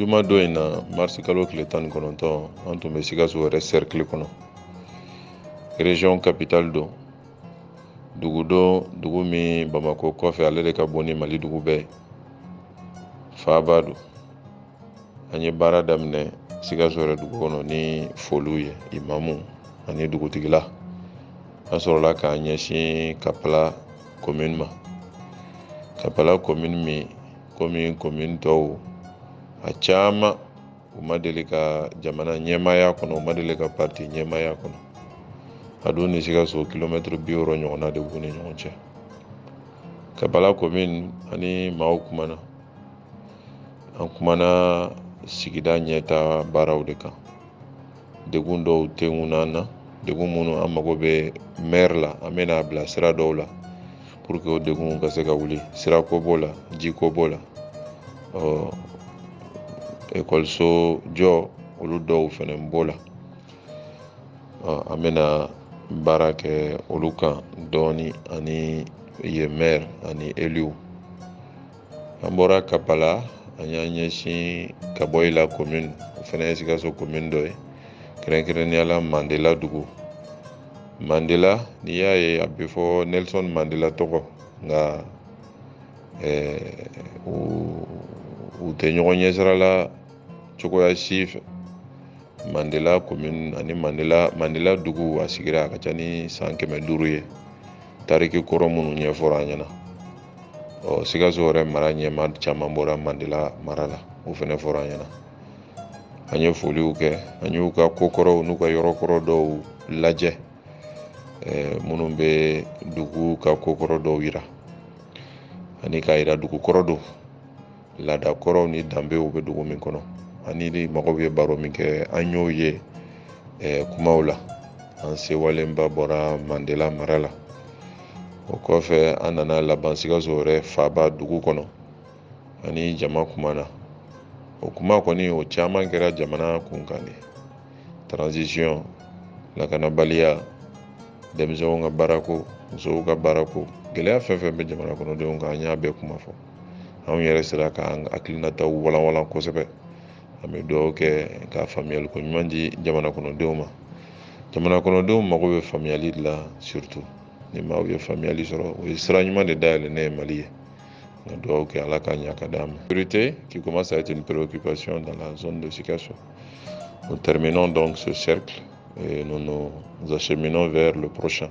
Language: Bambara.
juma don in na marisi kalo tile tan ni kɔnɔntɔn an tun bɛ sikaso yɛrɛ sɛrikili kɔnɔ region capitale don dugu don dugu min bamakɔ kɔfɛ ale de ka bon ni mali dugu bɛɛ ye faaba don an ye baara daminɛ sikaso yɛrɛ dugu kɔnɔ ni foliw ye imamu ani dugutigila an sɔrɔla k'an ɲɛsin kapala komin ma kapala komin min komi komin tɔw a caman u ma deli ka jamana ɲɛmaa y'a kɔnɔ u ma deli ka parti ɲɛmaa y'a kɔnɔ a dun ni sikaso kilomɛtiri bi wɔɔrɔ ɲɔgɔnna de b'u ni ɲɔgɔn cɛ kapala komin an ni maaw kumana an kumana sigida ɲɛtaa baaraw de kan degun dɔw tɛ ŋun an na degun minnu an mago bɛ mɛri la an bɛna a bila sira dɔw la pour que o degun ka se ka wuli sirako b'o la jiko b'o la ɔ ekɔliso jɔ olu dɔw fana b'o la ɔ an bɛna baara kɛ olu kan dɔɔni an ni yen mɛri ani eliw an bɔra kapala an y'an ɲɛsin kaboyila komin o fana ye sikaso komin dɔ ye kɛrɛnkɛrɛnnenya la mandela dugu mandela n'i y'a ye a bɛ fɔ nelson mandela tɔgɔ nka eh, u tɛ ɲɔgɔn ɲɛsira la cogoya si fɛ mandela komin ani mandela mandela dugu a sigira a ka ca ni san kɛmɛ duuru ye tariki kɔrɔ minnu ɲɛfɔra an ɲɛna ɔ sikaso yɛrɛ mara ɲɛmaa caman bɔra mandela mara la o fana fɔra an ɲɛna an ye foliw kɛ an y'u ka ko kɔrɔw n'u ka yɔrɔ kɔrɔ dɔw lajɛ minnu bɛ dugu ka ko kɔrɔ dɔw yira ani k'a yira dugu kɔrɔ don laada kɔrɔw ni danbew bɛ dugu min kɔnɔ an ni mɔgɔw ye baro min kɛ an y'o ye eh, kumaw la an sewalenba bɔra mandela mara la o kɔfɛ an nana laban sikaso yɛrɛ faaba dugu kɔnɔ an ni jama kumana o kuma kɔni o caman kɛra jamana kunkan de transition lakanabaliya denmisɛnw ka baarako musow ka baarako gɛlɛya fɛn fɛn bɛ jamana kɔnɔdenw kan an y'a bɛɛ kuma fɔ anw yɛrɛ sera k'an hakilinataw walanwalan kosɛbɛ an bɛ dugawu kɛ ka faamuyali ko ɲuman di jamana kɔnɔdenw ma jamana kɔnɔdenw mago bɛ faamuyali de la surtout ni maaw ye faamuyali sɔrɔ o ye sira ɲuman de dayɛlɛlen ye mali ye an ka dugawu kɛ ala k'a ɲa k'a d'an ma priorité qui commence à être une préoccupation dans la zone de Sikasso nous terminons donc ce cercle et nous nous acheminons vers le prochain